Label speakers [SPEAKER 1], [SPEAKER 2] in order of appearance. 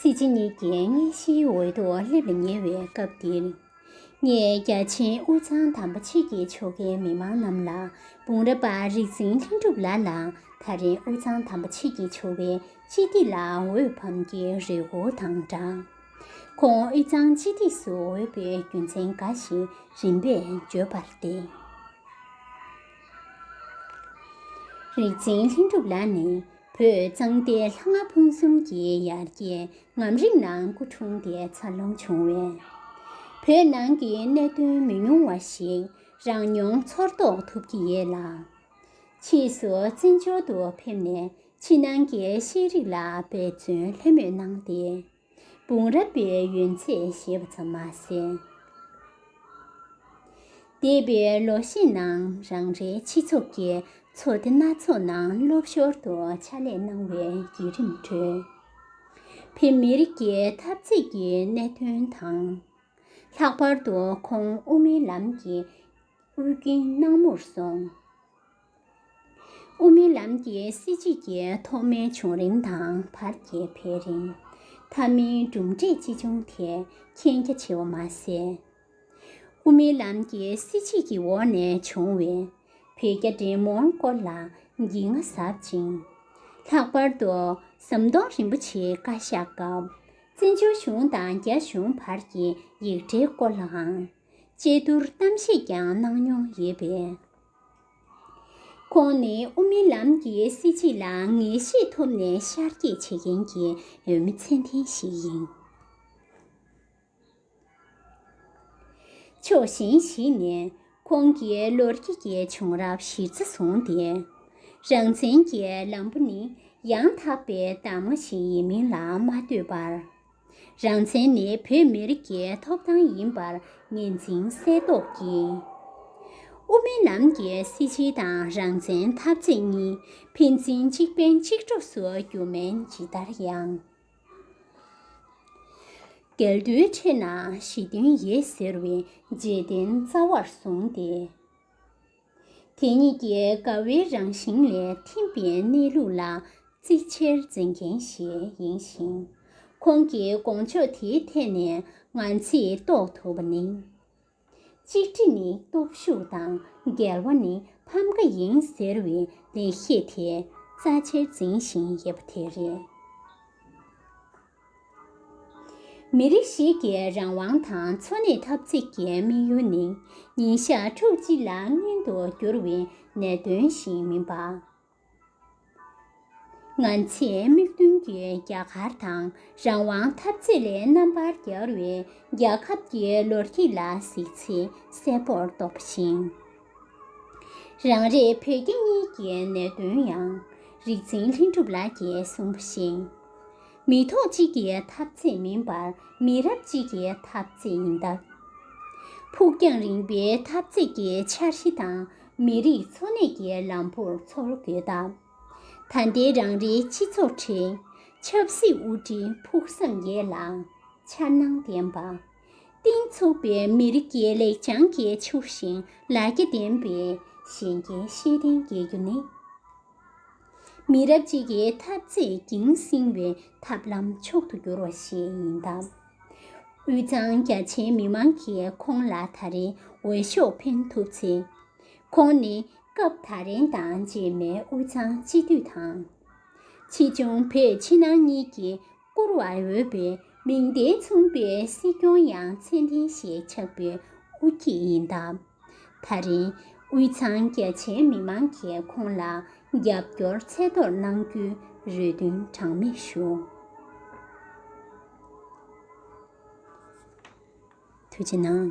[SPEAKER 1] སྲིད་སྤྱི་གཉིས་ཀྱི་མངའ་གཞིའི་འོས་ཐོག་སླེབས་ལ་ཉེ་བའི་སྐབས་འདིར། ངས་རྒྱ་ཆེའི་དབུས་གཙང་དམ་པ་ཕྱི་གྱི་ཕྱོགས་འགལ་མི་མང་རྣམས་ལ་དཔུང་རབས་པ་རིག་འཛིན་ལྷུན་གྲུབ་ལགས་ལ་ད་རེས་དབུས་གཙང་དམ་པ་ཕྱི་གྱི་ཆོལ་བའི་སྤྱི་སྟེགས་ལ་འོས་འཕམ་གྱི་རེ་སྒུག་དང་སྦྲགས། ཁོང་དབུས་གཙང་སྤྱི་སྟེགས་སུ་འོས་པའི་རྒྱུ་མཚན་འགའ་ཞིག་རིམ་པས་བརྗོད་པར་བརྟེན། རིག་འཛིན་ལྷུན་གྲུབ་ལ་ནི་བོད་གཙང་སྟེ་ལྷ་ལྔ་ཕུན་གསུམ་གྱི་ཡར་རྒྱས་ངམ་རིག་ནང་སྐུ་འཁྲུངས་ཏེ་འཚར་ལོངས་བྱུང་བས། བོད་ནང་གི་གནད་དོན་མི་ཉུང་བ་ཞིག་རང་མྱོང་ཚོར་རྟོགས་ཐུབ་ཀྱི་ཡོད་ལ། ཕྱིས་སུ་བཙན་བྱོལ་དུ་ཕེབས་ནས་ཕྱི་ནང་གི་ཤེས་རིག་ལ་འབད་བརྩོན་ལྷོད་མེད་གནང་སྟེ། དཔུང་རབས་པའི་ཡོན་ཚད་ཞེས་པ་ཙམ་མ་ཟད། འདས་པའི་ལོ་ཤས་ནང་རང་རེའི་སྤྱི་ཚོགས་ཀྱི་ཚོགས་སྡེ་སྣ་ཚོགས་ནང་སློབ་ཞོར་དུ་ཕྱག་ལས་གནང་བའི་བརྒྱུད་རིམ་ཁྲོད། བོད་མི་རིགས་ཀྱི་འཐབ་རྩོད་ཀྱི་གནད་དོན་དང། ལྷག་པར་དུ་ཁོང་དབུ་མའི་ལམ་གྱི་དབུ་རྒྱུན་སྣང་མུར་སོང། དབུ་མའི་ལམ་གྱི་སྲིད་བྱུས་ཀྱི་ཐོག་མའི་བྱུང་རིམ་དང་བར་གྱི་འཕེལ་རིམ། མཐའ་མའི་གྲུབ་འབྲས་ཅི་བྱུང་དེ་མཁྱེན་རྒྱ་ཆེ་བ་མ་ཟད། དབུ་མའི་ལམ་གྱི་སྲིད་བྱུས་ཀྱི་འོག་ནས་བྱུང་བའི་བོད་རྒྱ་འབྲེལ་མོལ་སྐོར་ལ་འགྱིང་ང་ཟབ་ཅིང། ལྷག་པར་དུ་ཟམ་གདོང་རིན་པོ་ཆེའི་བཀའ་ཤག་སྐབས་བཙན་བྱོལ་གཞུང་དང་རྒྱ་གཞུང་བར་གྱི་ཡིག་འབྲེལ་སྐོར་ལའང་དཔྱད་བསྡུར་གཏམ་བཤད་ཀྱང་གནང་མྱོང་ཡོད་པས། ཁོང་ནི་ཨོ་མིན་ལམ་གྱི་སྲིད་སྤྱི་ལ་ངེས་ཤེས་ཐོབ་ནས་ཤར་སྐྱེད་བྱེད་མཁན་གྱི་མི་ཚད་ལྡན་ཞིག་ཡིན། ཕྱོགས་གཞན་ཞིག་ནས་ཁོང་གི་ལོ་རྒྱུས་ཀྱི་བྱུང་རབས་གཞིར་རྩ་བཟུང་སྟེ། རང་བཙན་གྱི་ལམ་བུ་ནི་ཡང་དག་པའི་གདམ་ང་ཞིག་ཡིན་མིན་ལ་མ་ལྟོས་པར། རང་བཙན་ནི་བོད་མི་རིགས་ཀྱི་ཐོབ་ཐང་ཡིན་པར་ངེས་འཛིན་གསལ་རྟོགས་ཀྱིས། དབུ་མའི་ལམ་གྱི་སྲིད་སྤྱི་དང་རང་བཙན་འཐབ་རྩོད་གཉིས་ཕན་ཚུན་གཅིག་ཕན་གཅིག་གྲོགས་སུ་གྱུར་མིན་ཇི་ལྟར་ཡང་འགལ་འདུའི་ཁྲོད་ན་ཞི་མཐུན་ཡོད་ཟེར་བའི་རྗེས་དྲན་རྩ་བར་བཟུང་སྟེ། དེ་གཉིས་ཀྱི་དགའ་བའི་རང་བཞིན་ལས་ཐིམ་པའི་གནས་ལུགས་ལ་གཙིགས་ཆེར་འཛིན་མཁན་ཞིག་ཡིན་ཞིང། ཁོང་གི་དགོངས་ཕྱོགས་དེའི་ཐད་ནས་ང་ཚིས་རྟོགས་ཐུབ་པ་ནི། གཅིག་སྒྲིལ་ནི་སྟོབས་ཤུགས་དང་འགལ་བ་ནི་ཕམ་ཁ་ཡིན་ཟེར་བའི་ལེགས་བཤད་དེ་རྩ་ཆེར་འཛིན་བཞིན་ཡོད་པ་དེ་རེད། མི་རིགས་ཤིག་གི་རང་དབང་དང་འཚོ་གནས་འཐབ་རྩོད་ཀྱི་དམིགས་ཡུལ་ནི་ཉིན་ཞག་ཕྲུགས་གཅིག་ལ་བརྔན་དུ་གྱུར་བའི་ནད་གདོན་ཞིག་མིན་པར། ང་ཚོས་དམིགས་འདུན་གྱི་རྒྱ་གར་དང་རང་དབང་འཐབ་རྩོད་ལས་རྣམ་པར་རྒྱལ་བའི་རྒྱལ་ཁབ་ཀྱི་ལོ་རྒྱུས་ལ་གཟིགས་ཚེ་གསལ་པོར་རྟོགས་པ་བཞིན། རང་རེ་བོད་རྒྱ་གཉིས་ཀྱི་ནད་གདོན་ཡང་རིག་འཛིན་ལྷུན་གྲུབ་ལགས་ཀྱིས་གསུངས་པ་བཞིན། མི་ཐོག་གཅིག་གི་ཐབས་ཚད་མིན་པར་མི་རབས་གཅིག་གི་ཐབས་ཚད་ཡིན་སྟབས། ཕུགས་རྒྱང་རིང་པོའི་ཐབས་ཚད་ཀྱི་འཆར་གཞི་དང་མི་རིགས་འཚོ་གནས་ཀྱི་ལམ་བུར་ཚོར་དགོས་སྟབས། ད་ལྟའི་རང་རེའི་སྤྱི་ཚོགས་ཁྲོད་ཆབ་སྲིད་དབུ་ཁྲིད་ཕུགས་བསམ་ཡོད་ལ། འཆར་སྣང་ལྡན་པ། གཏིང་ཚུགས་པའི་མི་རིགས་ཀྱི་ལེགས་བྱང་གི་ཕྱུག་ཤིང་ལ་རྒྱ་ལྡན་པའི་གཞན་རྒྱལ་ཤེས་ལྡན་རྒྱལ་རྒྱུ་ནི། མི་རབས་གཅིག་གི་འཐབ་རྩོད་ཀྱིང་བསྲིང་བའི་ཐབས་ལམ་མཆོག་ཏུ་གྱུར་བ་ཞིག་ཡིན་སྟབས། དབུས་གཙང་རྒྱ་ཆེའི་མི་མང་གིས་ཁོང་ལ་ད་རེས་འོས་ཤོག་འཕེན་ཐུབ་ཚེ། ཁོང་ནི་སྐབས་ད་རེང་དང་རྗེས་མའི་དབུས་གཙང་སྤྱི་འཐུས་དང། ཕྱིས་འབྱུང་བོད་ཕྱི་ནང་གཉིས་ཀྱིས་བཀུར་བར་འོས་པའི་མིང་བརྡས་མཚུངས་པའི་སྲིད་སྐྱོང་ཡང་མཚན་ལྡན་ཞིག་ཆགས་པའི་དབུ་ཁྱིད་ཡིན་སྟབས། ད་རིང་དབུས་གཙང་རྒྱ་ཆེའི་མི་མང་གིས་ཁོང་ལ་རྒྱབ་སྐྱོར་ཚད་མཐོར་གནང་རྒྱུའི་རེ་འདུན་གྲངས་མེད་ཞུ། ཐུགས་རྗེ་གནང།